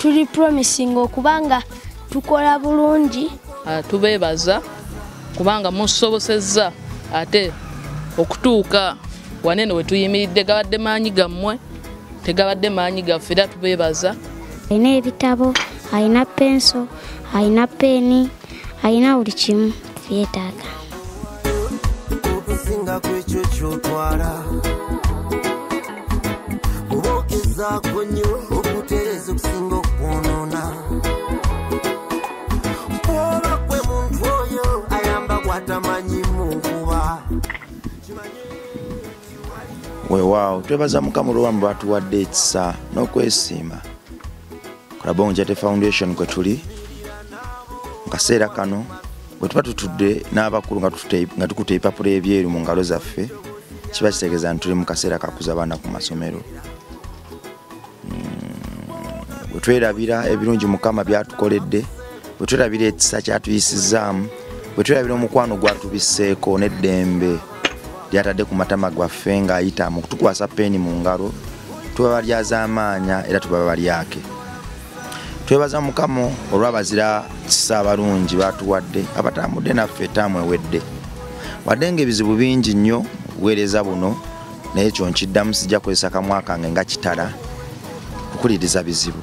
tuli promising okubanga tukola bulungi ah, tubeebaza kubanga musobosezza ate okutuuka wanene wetuyimiridde gabadde maanyi gammwe tegabadde maanyi gaffe era tubeebaza alina ebitabo alina penso alina peeni alina buli kimu byetaaga okusinga kwekyo kyotwala obaokizaako nnyo okutereeza okusinga okwonoona oba kwe muntu oyo ayamba gwatamanyi mu nkuba weewaawo twebaza mukama olwobamu batuwadde ekisa n'okwesiima kulaba onjate foundation kwe tuli mu kaseera kano bwe tuba tutudde n'abakulu nga tukutte ebipapula ebyeru mu ngalo zaffe kiba kitegeeza nti tuli mu kaseera kakuza abaana ku masomero hmm, bwe twerabira ebirungi mukama byatukoledde bwe twerabira ekisa kyatuyisizzaamu bwe twerabira omukwano gwatubisseeko n'eddembe lyatadde ku matama gwaffe ng'ayita mu kutukwasa peeni mu ngalo tuba balyazaamaanya era tuba balyake twebaza mukama olw'abazira kisa abalungi batuwadde abatambudde naffe etaamu ewedde wadde ng'ebizibu bingi nnyo buweereza buno naye ekyo nkiddamu sijja kozesa kamwa kange nga kitala okuwuliriza bizibu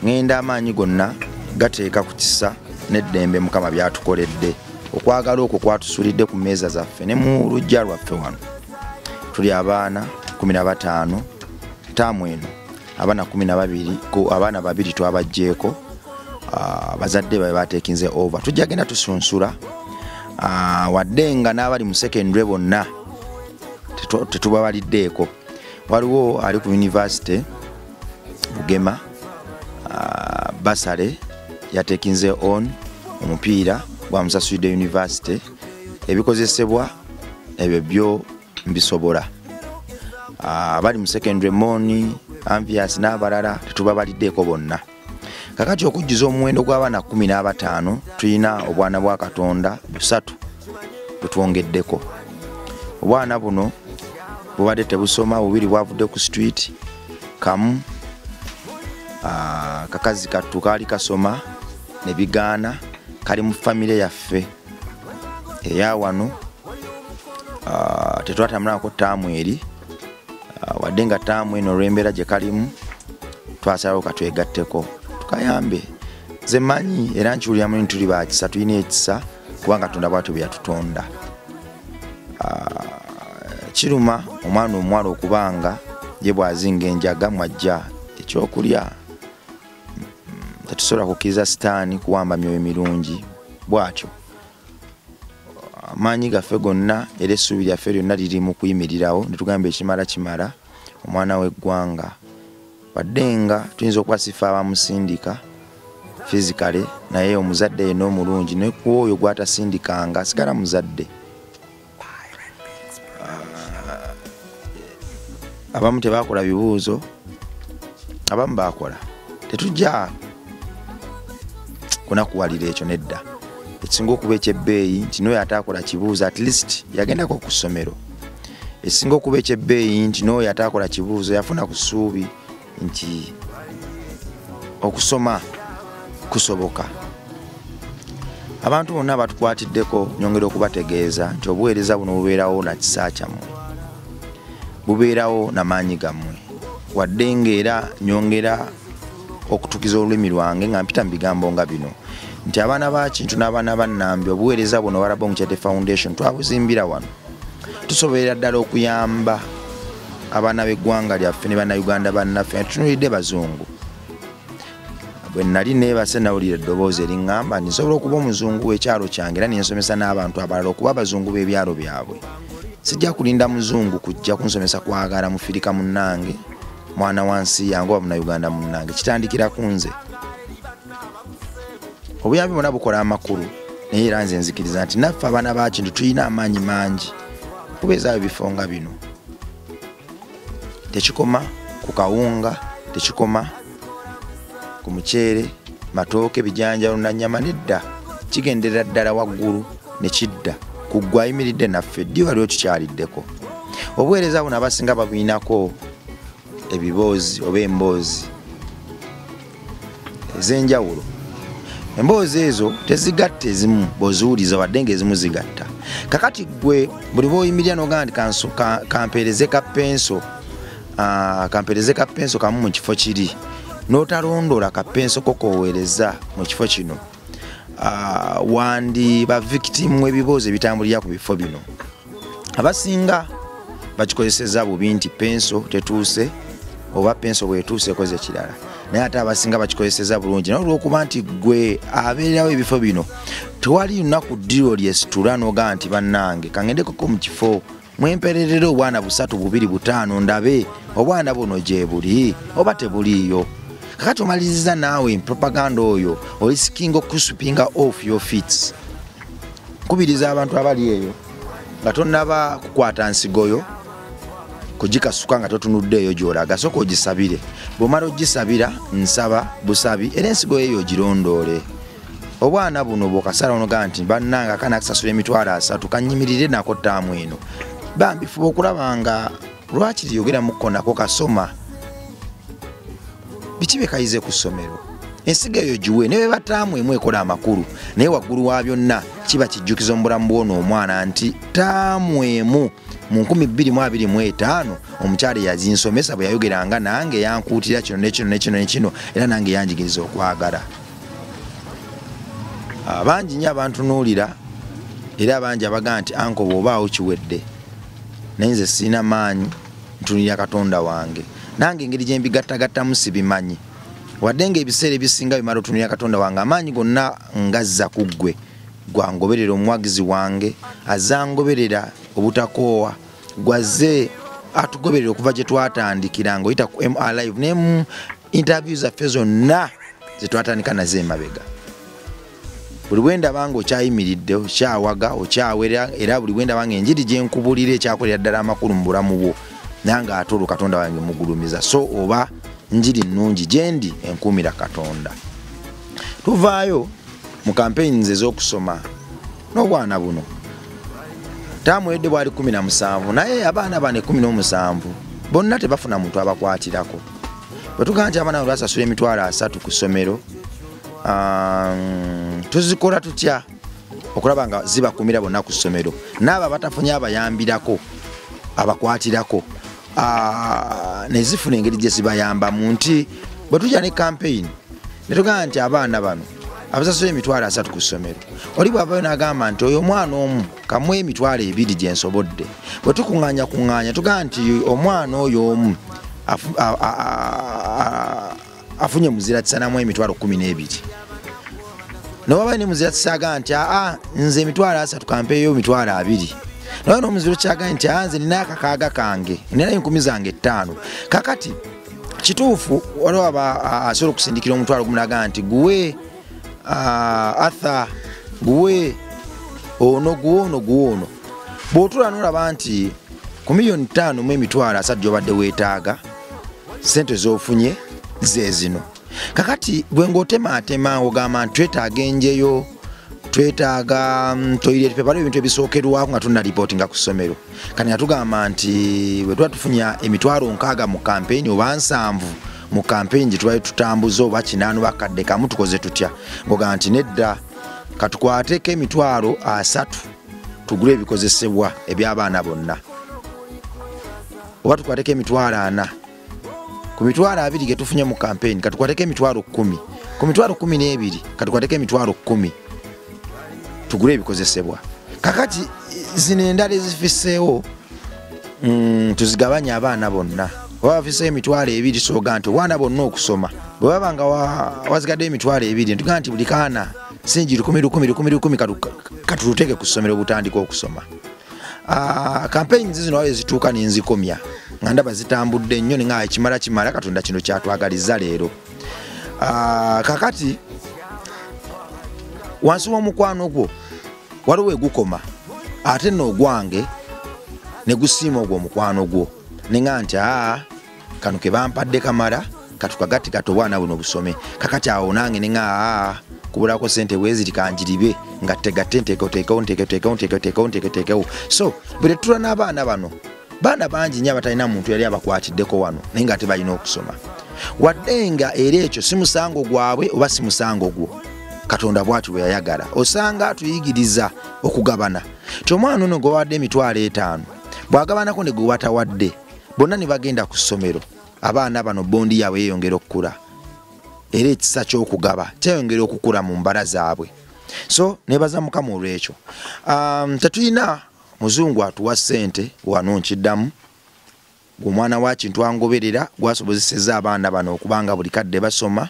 ŋŋenda amaanyi gonna gateeka ku kisa n'eddembe mukama byatukoledde okwagala okwo kwatusulidde ku meeza zaffe ne mu lujja lwaffe wano tuli abaana 15 taamu eno abaana 12 abaana babiri twabajjeeko ah, bazadde babe batekinze over tujja genda tusunsula ah, wadde nga n'abali mu secondary bonna tetubabaliddeeko waliwo ali ku yunivasite bugema ah, basale yatekinze on omupiira gwa musasulide university ebikozesebwa ebyo byo mbisobola ah, abali mu secondary moni amvias n'abalala tetubabaliddeeko bonna kakati okujjuza omuwendo gw'abaana 15 tulina obwana bwa katonda busatu butwongeddeko obwana buno bubadde tebusoma bubiri bwavudde ku street kamu ah, kakazi kattu kaali kasoma ne bigaana kali mu famire yaffe eya wano ah, tetwatambulangako taamu eri ah, wadde nga taamu eno olw'embeera gye kalimu twasalawo katwegatteko tukayambe nze manyi era nkiwuliramu nti tuli bakisa tulina ekisa kubanga tonda bwatyo bwe yatutonda ah, kiruma omwana omuwala okubanga ye bwazinga enjaga mwajja ekyokulya tetusobola kukkiriza sitaani kuwamba myoyo mirungi bwatyo amaanyi gaffe gonna era essuubi lyaffe lyonna liri mu kuyimirirawo netugamba ekimala kimala omwana w'eggwanga wadde nga tuyinza okuba sifa abamusindika fizikale naye omuzadde yena omulungi ne ku oyo gwatasindikanga asigala muzadde ah, abamu tebakola bibuuzo abamu bakola tetujja kunakuwalira ekyo nedda ekisinga okuba ekyebbeeyi nti noyo ataakola kibuuzo at least yagendako ku ssomero esinga okuba ekyebbeeyi nti n'oyo ataakola kibuuzo yafuna ku ssuubi nti okusoma kusoboka abantu bonna batukwatiddeko nyongera okubategeeza nti obuweereza buno bubeerawo na kisa kyammwe bubeerawo na maanyi gammwe wadde ngaera nyongera okutukiza olulimi lwange nga mpita mu bigambo nga bino nti abaana ba kintu n'abaana ba nnambi obuweereza buno warabomucete foundation twabuzimbira wano tusobolera ddala okuyamba abaana b'eggwanga lyaffe ne bannayuganda bannaffe nga tutunulidde bazungu bwe nali neebase nawulira eddoboozi eriŋŋamba nti nsobola okuba omuzungu w'ekyalo kyange era nensomesa n'abantu abalala okuba abazungu b'ebyalo byabwe sijja kulinda muzungu kujja kunsomesa kwagala mufirika munnange mwana wa nsi yange oba munayuganda munnange kitandikira ku nze obuyambi bona bukola amakulu naye era nze nzikiriza nti naffe abaana bakintu tulina amaanyi mangi kubeezaayo bifo nga bino tekikoma ku kawunga tekikoma ku muceere matooke bijanjalo nanyama nedda kigenderera ddala waggulu ne kidda ku ggwe ayimiridde naffe ddi waliwo kikyaliddeko obuweereza buno abasinga babulinako ebiboozi oba emboozi ez'enjawulo emboozi ezo tezigatta ezimu bwoziwuliza wadde ngaezimu zigatta kakati gwe buli bwoyimirira nogaa nti kampeereze ka penso ah, kampeereze ka penso kamu mu kifo kiri notalondoola ka penso kokoweereza mu kifo kino ah, wandi ba victimu ebiboozi ebitambulira ku bifo bino abasinga bakikozeseza bubi nti penso tetuuse oba penso bwetuuse ekoze kirala naye ate abasinga bakikozeseza bulungi naye olwokuba nti gwe abeererawo ebifo bino tewali lunaku ddiro lyesitula nogaa nti bannange kangendekoko mu kifo mwempererera obwana busatu bubiri butaano ndabe obwana buno gyebuli oba tebuliiyo kakati omaliriza naawe propaganda oyo olisikinga okusupinga off your fits nkubiriza abantu abali eyo nga tonaba kukwata nsigoyo kugikasuka nga totunudde eyo gyolaga soka ogisabire bwomala ogisabira nsaba busabi era ensigo yeyo ogirondoole obwana buno bwokasala onoga nti bannange akana akusasula emitwalo asatu kanyimirire nako taamu eno bambi fuba okulaba nga lwaki teyogeramuko nako kasoma biki bekayize ku ssomero ensiga eyo giwe ne bebataamu emu ekola amakulu naye waggulu wa byonna kiba kijjukizo mu bulamu bwona omwana nti taamu emu mu 225 omukyala eyazinsomesa bwe yayogeranga nange yankuutira kino nekino nekino nekino era nange yanjigiriza okwagala abangi ah, nyo abantunuulira era abangi abagaa nti ankoba obaawo kiwedde naye nze sirina maanyi ntunira katonda wange nange engeri gyembigattagattamu sibimanyi wadde nga ebiseera ebisinga bimala otunira katonda wange amaanyi gonna ngazza ku ggwe gwangoberera omuwagizi wange azangoberera obutakoowa gwazze atugoberera okuva gye twatandikira nga oyita ku mrlive nemu interview zaffe zonna zetwatandika nazo emabega buli bwe ndaba nga okyayimiridde okyawaga okyawera era buli bwe ndaba nga enjiri gye nkubulira ekyakolera ddala amakulu mu bulamu bwo nange ate olwo katonda wange mugulumiza so oba njiri nnungi gye ndi enkuumira katonda tuvaayo mu kampeyini ze z'okusoma n'obwana buno tamwedde bwali 17 naye abaana bane 17 bonna tebafuna muntu abakwatirako bwe tugamba nti abaana bwe basasula emitwalo asatu ku ssomero um, tuzikola tutya okulaba nga zibakumira bonna ku ssomero naabo abatafunye abayambirako abakwatirako ah, nezifuna engeri gye zibayambamu nti bwe tujja ne kampeyini netugamba nti abaana bano abasasula emitwalo asatu ku ssomero oli bwavayo nagamba nti oyo omwana omu kamu emitwalo ebiri gyensobodde bwe tukuŋanya kuŋanya tugamba nti omwana oyo omu afunye muzira tisanamu emitwalo kumi n'ebiri newaba ne muzira tisaga nti aa nze emitwalo asatu kampeeyo emitwalo abiri naye nomuzira kyaga nti aa nze nina akakaaga kange nina enkumi zange ettaano kakati kituufu waliwo aba asobola okusindikira omutwalo gumunaga nti guwe atha guwe ono guwe ono guwe ono bw'otuula n'olaba nti ku miliyoni ttaano mu emitwalo asatu gy'obadde weetaaga ssente z'ofunye ze zino kakati gwe ng'otemaatema ogamba nti twetaaga enjeyo twetaaga mm, toilet paper waliwo ebintu ebisookerwako nga tulina lipooti nga ku ssomero kati nga tugamba nti bwe tuba tufunya emitwalo nkaaga mu kampeyini oba nsanvu mu kampeyini gye tubali tutambuza oba kinaanu bakadde kamu tukoze tutya ng'ogamba nti nedda katukwateko emitwalo asatu tugule ebikozesebwa ebyabaana bonna oba tukwateko emitwalo ana ku mitwalo abiri getufunye mu kampeyini katukwateko emitwalo kumi ku mitwalo kumi n'ebiri katukwateko emitwalo kumi tugule ebikozesebwa kakati zino endala ezifiseewo mm, tuzigabanye abaana bonna oba bafiseewo emitwalo ebiri soga nti obwana bonna okusoma bwebaba nga wazigaddeyo emitwalo ebiri ntuga nti buli kaana singi lukumi lukumi lukumi lukumi katuluteke ku ssomero butandika okusoma ah, kampeyini zizino awo ezituuka nenzikomya nga ndaba zitambudde nnyo ninga ekimala kimala katonda kino kyatwagaliza leero ah, kakati wansi w'omukwano gwo waliwo egukoma ate noogwange ne gusiima ogwo omukwano gwo ninga nti aa ah, kano kebampadde kamala katukagatti kati obwana buno busome kakati awo nange nea ah, kubulako sente bweziri kanjiribe nga tegatte nteekoteekewo nteekoteekewo nteekoteekewo nteekoteekewo so bwe tetula n'abaana bano baana bangi nyo abatalina muntu yali abakwatiddeko wano naye nga tebalina okusoma wadde nga era ekyo si musango gwabwe oba si musango gwo katonda bwati bweyayagala osanga atuyigiriza okugabana ti omwana ono gwebawadde emitwalo etaano bwagabanako ne gwewatawadde bonna ne bagenda ku ssomero abaana bano bondi yaabwe yeeyongera okukula era ekisa ky'okugaba kyeyongera okukula mu mbala zaabwe so nebaza mukama olwekyo um, tetulina muzungu atuwa ssente wano nkiddamu omwana wakintu angoberera gwasobozeseza abaana bano okubanga buli kadde basoma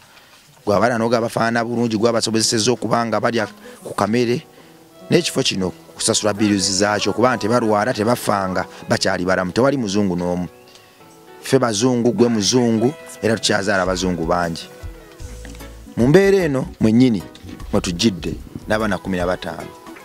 gwabala noga abafaana bulungi gwabasobozeseza okuba nga balya ku kamere n'ekifo kino kusasula biruzi zaakyo kuba nti balwala tebafanga bakyali balamu tewali muzungu n'omu ffe bazungu gwe muzungu era tukyazaala abazungu bangi mu mbeera eno mwennyini mwetujjidde n'abaana kumi na bataano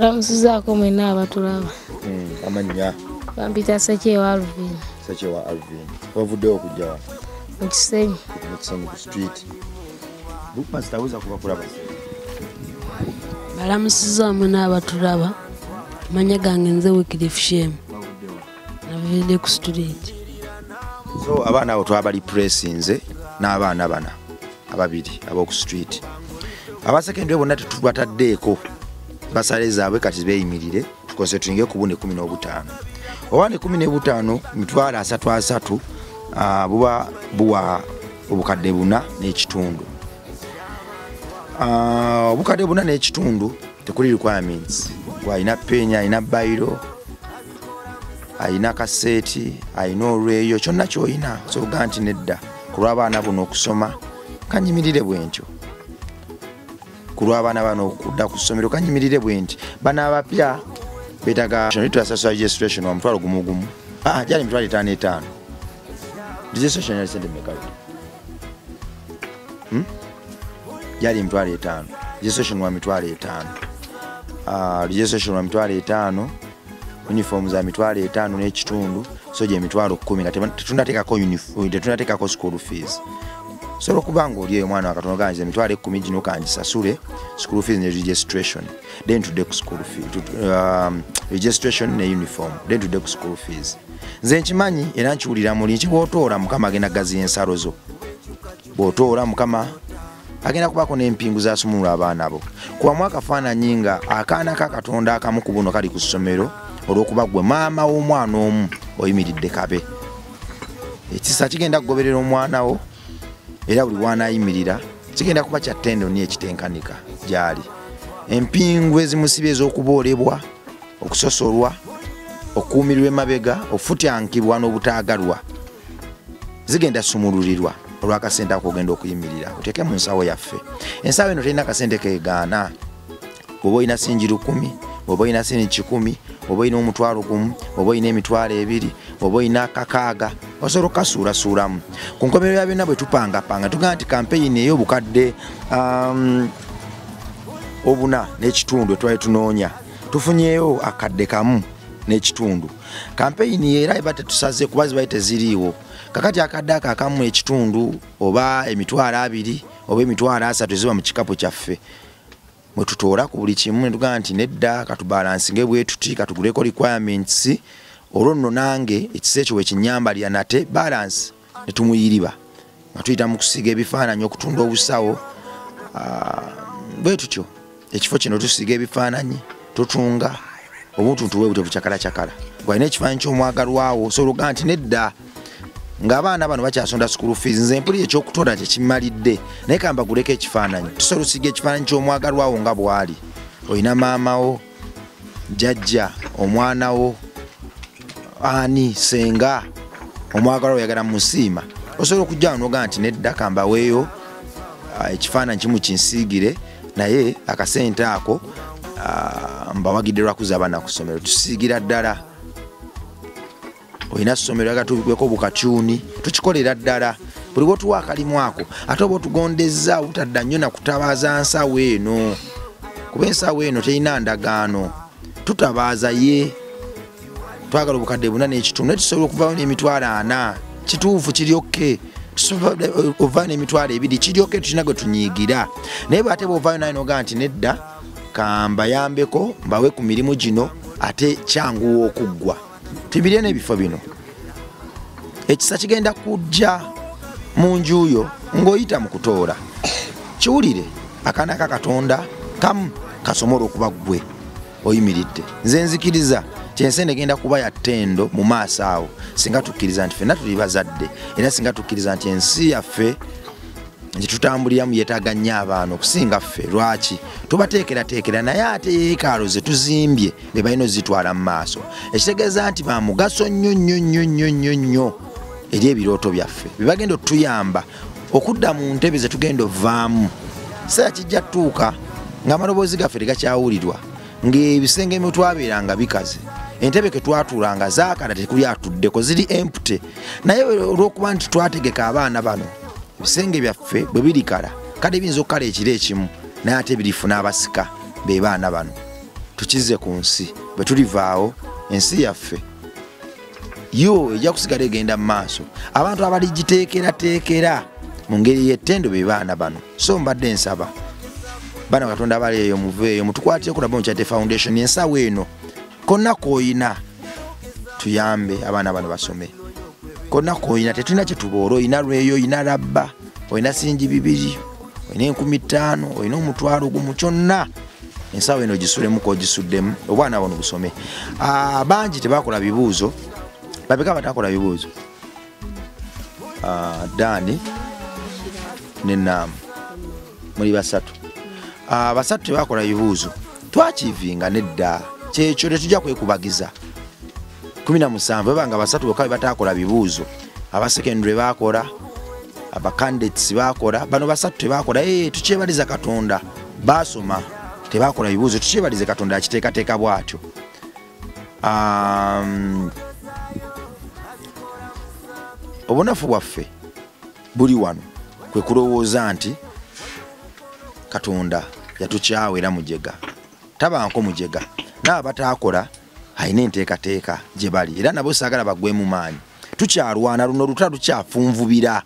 Ramusizaako mwena abatulaba. Hmm, Amanya. Bampita Sekyewa Alvin. Sekyewa Alvin. Wavuddewo okujja wano? Mu Kisenyi. Mu Kisenyi ku street. Bookmaster aweza kuba kulaba. Balamusiza mwena abatulaba. Manya gange nze Wycliffe Shame. navende ku student so abaana abo twabali pressinze n'abaana bana ababiri ab'oku street abasekendule bonna tetubataddeeko basale zaabwe kati beeyimirire tukoze tuyinge ku bune kumi n'obutaano oba ne kumi n'ebutaano mitwalo asatu asatu ah, buba buwa obukadde buna n'ekitundu ah, obukadde buna n'ekitundu tekuli requirements gwalina penya alina bayiro alina kaseeti alina olweyo kyonna kyolina osoboga nti nedda ku lw'abaana buno okusoma kanyimirire bwe ntyo ku lw'abaana bano okudda ku ssomero kanyimirire bwe nti bana abapya betaga tuyasasula registration wa mutwalo gumu gumu ah, gyali mitwalo etaano etaano registration yali sente mekalu hmm? gyali mitwalo etaano registration wa mitwalo etaano ah, registration wa mitwalo etaano uniform za mitwalo etaano n'ekitundu so gye mitwalo kkumi nga tetunateekako tetunateekako school fees osobola okuba nga oli eyo omwana wakatono gangiza emitwalo ekkumi gino kangisasule school fees ne registration then tudde ku school fees um, registration ne uniform then tudde ku school fees nze nkimanyi era nkiwulira muli nkiwotoola mukama agenda gaziya ensalo zo bw'otoola mukama agenda kubaako n'empingu zasumulula abaana bo kubamu akafaananyi nga akaana ka katonda akamu ku buno kali ku ssomero olw'okuba gwe maama w'omwana omu oyimiridde kabe ekisa kigenda kugoberera omwana wo era buli wanayimirira kigenda kuba kya tendo ni ekitenkanika gyali empingu ezimusiba ez'okuboolebwa okusosolwa okukuumirwa emabega okufutyankibwa n'obutaagalwa zigenda sumulurirwa olwakasente ako ogenda okuyimirira oteeke mu nsawo yaffe ensawo eno terina kasente kegaana oba olina singi lukumi oba olina singi kikumi oba olina omutwalo gumu oba olina emitwalo ebiri oba olina akakaaga osobola okukasuulasuulamu ku nkomero ya byonna bwe tupangapanga tugamba nti kampeyini ey'obukadde um, obuna n'ekitundu etwali tunoonya tufunyeyo akadde kamu n'ekitundu kampeyini era eba tetusaze kuba zibaye teziriiwo kakati akadde ako akamu ekitundu oba emitwalo abiri oba emitwalo asatu eziba mu kikapu kyaffe mwe tutoola ku buli kimu netugamba nti nedda katubalansi nga ebwetuti katuguleko requirements olwo nno nange ekisa ekyo wekinyambalira nate balansi ne tumuyiriba nga tuyita mu kusiga ebifaananyi okutunda obusawo ah, bwe tutyo ekifo kino tusiga ebifaananyi tutunga obuntuntu bwe butyo bucakalacakala gwalina ekifaananyi ky'omwagalwawo osobola okugaa nti nedda ng'abaana bano bakyasonda school fees nze mpulira ekyokutonda kyekimalidde naye kambaguleko ekifaananyi tusobola osiga ekifaananyi ky'omwagalwawo nga bwali olina maamawo jajja omwana wo ani senga omwagala oyagala musiima osobola okujjawo nogaa nti nedda kambaweeyo ah, ekifaananyi kimu kinsiigire naye akasente ako ah, mbawagidde lwakuza abaana ku ssomero tusiigira ddala olina somero agatubeko bukatyuni tukikolera ddala buli bwotuwa akalimu ako ate oba otugondezza obutadda nnyo nakutabaaza nsawo eno kuba ensawo eno terina ndagaano tutabaaza ye twagala obukadde buna n'ekitundu naye tusobola okuvawo n'emitwalo ana kituufu kiryokke ovaayo n'emitwalo ebiri kiryokke tulina gwe tunyiigira naye bwate bwovaayo naye nogaa nti nedda kambayambeko mbawe ku mirimu gino ate kyanguwa okuggwa tibirye n'ebifo bino ekisa kigenda kujja mu njuyo ng'oyita mu kutoola kiwulire akaana ka katonda kamu kasomola okuba ggwe oyimiridde nze nzikiriza kyensi negenda kuba ya ttendo mu maaso awo singa tukkiriza nti fenna tuli bazadde era singa tukkiriza nti ensi yaffe gyetutambuliramu yetaga nnyo abaana okusinga ffe lwaki tubateekerateekera naye ate yeekaalo ze tuzimbye be balina ozitwala mu maaso ekitegeeza nti ba mugaso nnyo nnyo nnyo nnyo nnyo nnyo eri ebirooto byaffe be bagenda otuyamba okudda mu ntebe ze tugenda ovaamu kiseera kijja tutuuka ng'amaloboozi gaffe tegakyawulirwa ng'ebisenge mu twabeeranga bikaze entebe ke twatuulanga zaakala tekuli atuddeko ziri empute naye olw'okuba nti twategeka abaana bano ebisenge byaffe bwe birikala kale biyinza okukala ekiro ekimu naye ate birifuna abasika be baana bano tukizze ku nsi bwe tulivaawo ensi yaffe yo ejja kusigala egenda mu maaso abantu abaligiteekerateekera mu ngeri y'ettendo be baana bano so mbadde nsaba bana katonda abali eyo muveeyo mutukwatire ku nabao kyate foundation ensawo eno konna koyina tuyambe abaana bano basome konna koyina tetulina kyetuboola oyina lweyo oyina labba oyina singi bibiri oyina enkumi ttaano oyina omutwalo gumu kyonna ensawo eno gisulemuko ogisuddemu obwana bono busome ah, bangi tebakola bibuuzo babeka batakola bibuuzo ah, dani nenaamu muli basatu ah, basatu tebakola bibuuzo twakivinga nedda kyekyo tetujja kwekubagiza kumi na musanvu ebanga basatu boka bebatakola bibuuzo abasekendure bakola abacandates bakola bano basatu tebakola eh, tukyebaliza katonda baasoma tebakola bibuuzo tukyebalize katonda akiteekateeka bwatyo um, obunafu bwaffe buli wano kwe kulowooza nti katonda yatukyawa era mujega tabanko mujega naaba bataakola alina enteekateeka gye bali era nabo saagala bagwemu maanyi tukyalwana luno luta lukyafunvubira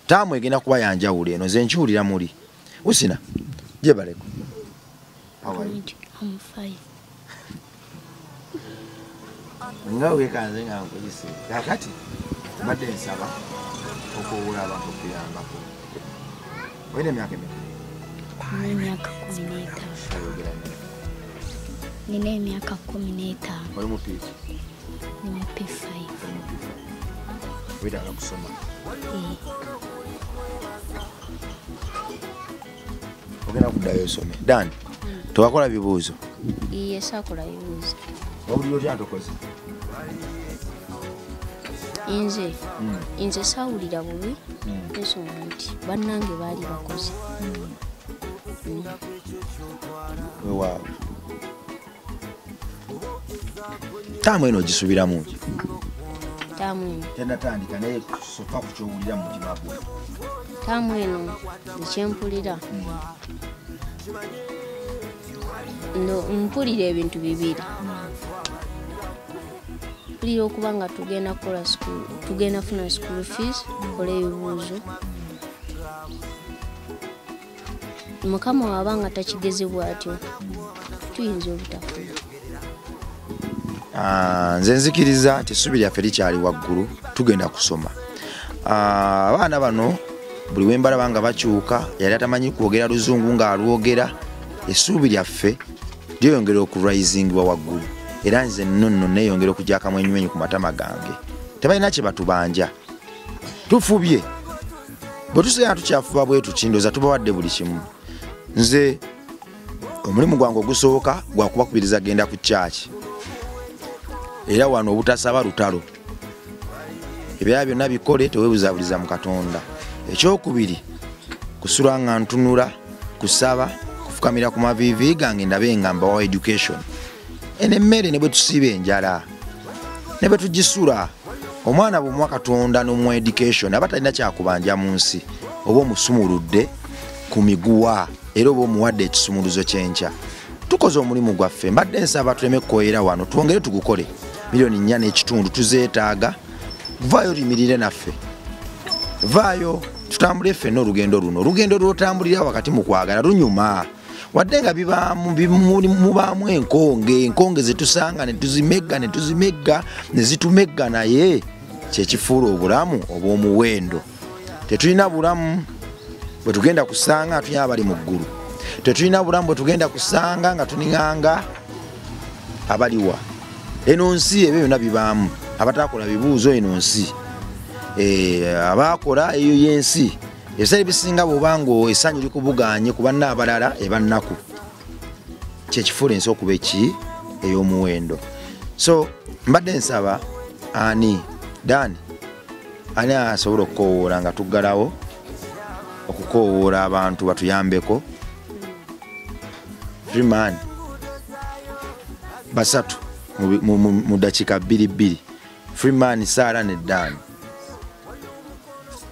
taamu egenda kuba yanjawulo eno ze nkiwulira muli usina jebaleko nga wekanze nga nkuyise kakati mbadde nsaba okuwula abantu okuyambako olina emyaka emeka emyaka kumi n'etaano nina emyaka kumi n'etaano oli mupiifu ni mupiifu wetaaga kusoma eh. ogenda kuddayo osome dan tewakola bibuuzo iye sakola bibuuzo wabulira otya ntokoze inze hmm. inze sawulira bubi hmm. nsonga nti bannange baali bakoze hmm. wewaawo taamu eno ogisubiramu ki taamu eno tenatandika naye soka ku kyowulira mu mutima gwe taamu eno ekyempulira no mpulira ebintu bibiri mpulira okuba nga tugenda kukola sukulu tugenda funa sukulu fees kola ebibuuzo mukama waba nga takigeze bwatyo tuyinza obutafuna ah, nze nzikiriza nti essubi lyaffe likyali waggulu tugenda kusoma ah, abaana bano buli wembalaba nga bakyuka yali atamanyi kwogera luzungu ng'alwogera essuubi lyaffe lyeyongera okuraisingiwa waggulu era nze nonno neyongera okujakamu enyumenyi ku matama gange tebalina kyebatubanja tufubye bwe tusigala tukyafuba bwe tukindoza tubawadde buli kimu nze omulimu gwange ogusooka gwakubakubiriza genda ku kyaki era wano obutasaba lutalo ebyala byonna bikole tewebuzabuliza mu katonda ekyokubiri kusula nga ntunula kusaba kufukamira ku maviivi gange ndabe nga mbawa education eno emmere ne bwe tusiba enjala ne bwe tugisula omwana bw'omuwa katonda n'omuwa education aba talina kyakubanja mu nsi oba omusumuludde ku miguwa era oba omuwadde ekisumuluzo kyenkya tukoze omulimu gwaffe mbadde nsaba tuleme kukoyera wano twongere tugukole miliyoni nnya n'ekitundu tuzeetaaga vaayo oyimirire naffe vaayo tutambule ffenna olugendo luno olugendo lwotambulira wakati mu kwagala lunyuma wadde nga bibaamu mubaamu enkonge enkonge zetusanga netuzimegga netuzimegga nezitumegga naye kyekifuula obulamu obwomuwendo tetulina bulamu bwetugenda kusanga nga tulina abali mu ggulu tetulina bulamu bwetugenda kusanga nga tuninganga abaliwa eno nsi ebyo byona bibaamu abatakola bibuuzo eno nsi eh, abakola eyo yensi ebiseera ebisinga bwoba nga esanyu likubuganye ku banna abalala ebannaku kyekifuula ensi okuba eki ey'omuwendo so mbadde nsaba ani dani ani asobola okukowoola nga tuggalawo okukowoola abantu batuyambeko freeman basatu mu dakiika bbiri bbiri freeman saara ne dani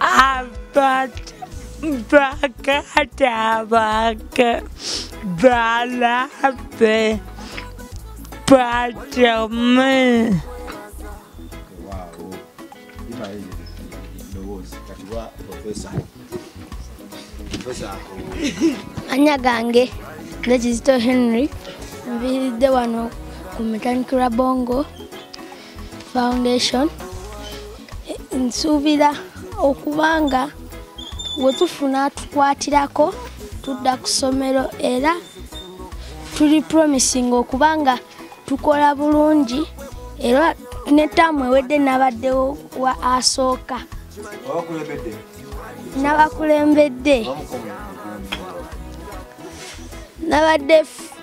Abata bakatabaka balape patame anya gange nze kizito henry nviiridde wano ku mechanical bongo foundation nsuubira okuba nga wetufuna tukwatirako tudda ku ssomero era tuli promising okuba nga tukola bulungi era ne taamu ewedde nabaddewo wa asooka nabakulembedde nabadde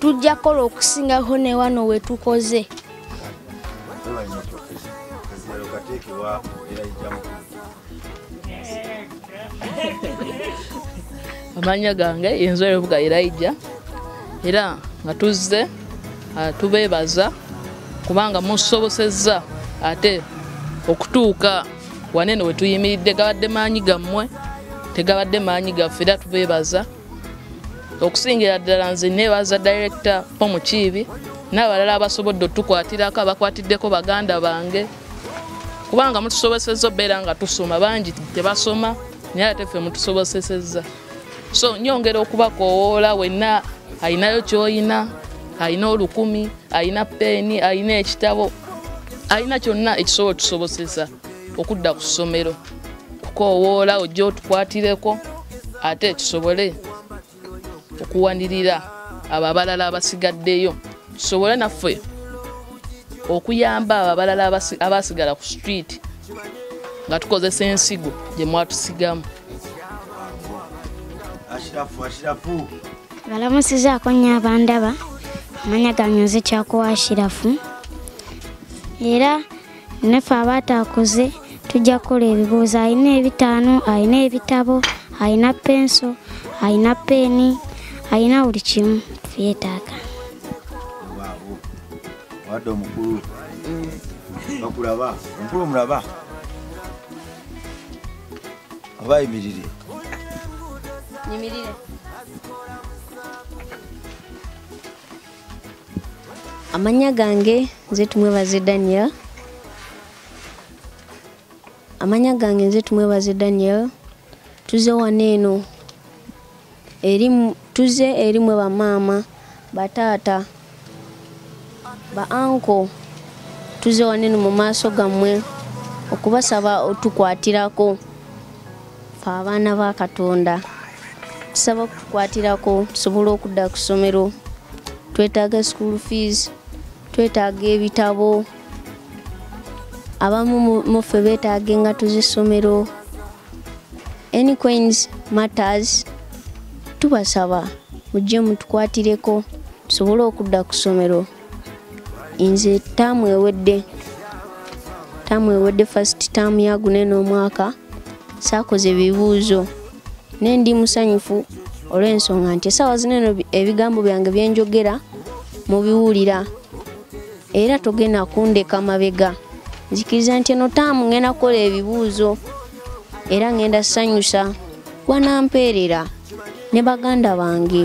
tujja kukola okusingako ne wano we tukoze amanya gange yenzu erebuga iraija era nga tuzze ah, tubeebaza kubanga musobosezza ate okutuuka wanene wetuyimiridde gabadde maanyi gammwe tegabadde maanyi gaffe era tubeebaza okusingira ddala nze nebaza direkita omukiibi n'abalala abasobodde otukwatirako abakwatiddeko baganda bange kubanga mutusobosezza obeera nga tusoma bangi tebasoma naye ate ffe mutusobosesezza so nyongera okubakowoola wenna alinayo kyoyina alina olukumi alina peeni alina ekitabo alina kyonna ekisobola otusobosesa okudda ku ssomero kukoowoola ojja otukwatireko ate tusobole okuwanirira abo abalala abasigaddeyo tusobole naffe okuyamba abo abalala abaasigala ku street nga tukozesa ensigo gye mwatusigamu balamusizaako nnyo abandaba amanya ganyuze kyakuwa ashirafu era naffe abaataakuze tujja kukola ebibuuzo alina ebitaano alina ebitabo alina penso alina peeni alina buli kimu yeetaaga wadde omukulu bakulaba omukulu omulaba oba ayimirire nyimirire amanya gange nze tumwebaze daniel amanya gange nze tumwebaze daniel tuze wano eno tuze erimwe bamaama bataata ba anko tuze wano eno mu maaso gammwe okubasaba otukwatirako fe abaana ba katonda tusaba okukwatirako tusobole okudda ku ssomero twetaaga school fees twetaaga ebitabo abamu muffe beetaaga engato z'essomero any coins matters tubasaba mujje mutukwatireko tusobole okudda ku ssomero nze taamu ewedde taamu ewedde first taamu yagune n'omwaka saakoze ebibuuzo ne ndi musanyufu olw'ensonga nti esaawa zino eno ebigambo byange byenjogera mubiwulira era togenda kundeka mabega nzikiriza nti eno taamu ngenda kukola ebibuuzo era ngenda sanyusa gwanampeerera ne baganda bange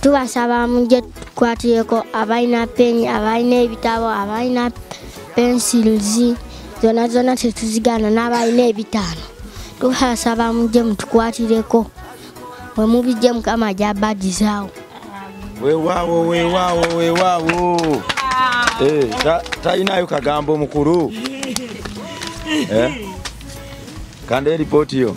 tubasaba mujje tukwatireko abalina peni abalina ebitabo abalina pencils zona zona tetuzigana n'abalina ebitaano tubasaba mujje mutukwatireko wemubijje mukama jabadizaawo wewaawo wewaawo wewaawo eh, talinayo kagambo mukulu eh? kanda eripooti yo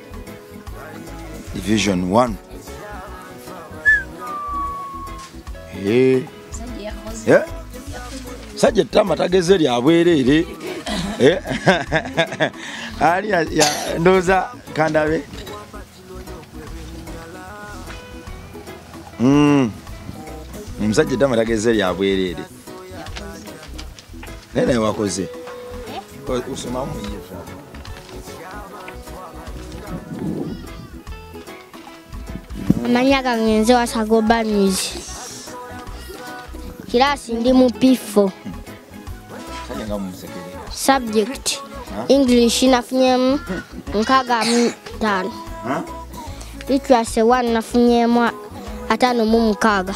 division 1 Eh, Omusajja yakoze. eh. sajja ettama tageze lya bwereere Eh, ali ya- ya- ndowooza kandabe Mm. omusajja ettama tageze lya bwereere naye naye wakoze eh? osomamu muyiva amanya gange nze wasagoba news kiraasi ndi mu p4 subject english nafunyemu nkaga mu tano literacy one nafunyemu atano mu mukaga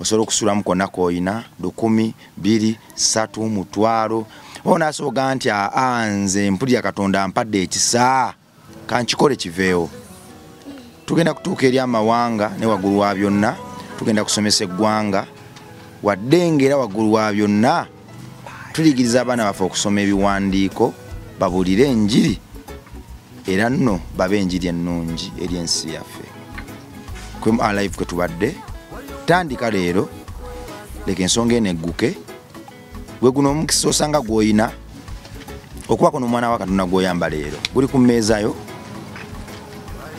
osobola okusulamu konna koyina lukumi biri satu mutwalo oba nasoboga nti aa nze mpulira katonda mpadde ekisa kankikole kiveewo tugenda kutuuka eri amawanga ne waggulu wa byonna tugenda kusomesa eggwanga wadde ngaera waggulu wa byonna tuyigiriza abaana baffe okusoma ebiwandiiko babuulire enjiri era nno babe enjiri ennungi eri ensi yaffe kwemu alive kwe tubadde tandika leero leka ensonga eno egguke gwe guno omukisa osanga gw'olina okubaako n'omwana wa katonda gw'oyamba leero guli ku mmeeza yo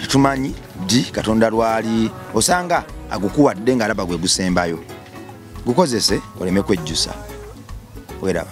tetumanyi ddi katonda lwali osanga agukuwadde ng'alaba gwe gusembayo gukozese oleme kwejjusa weraba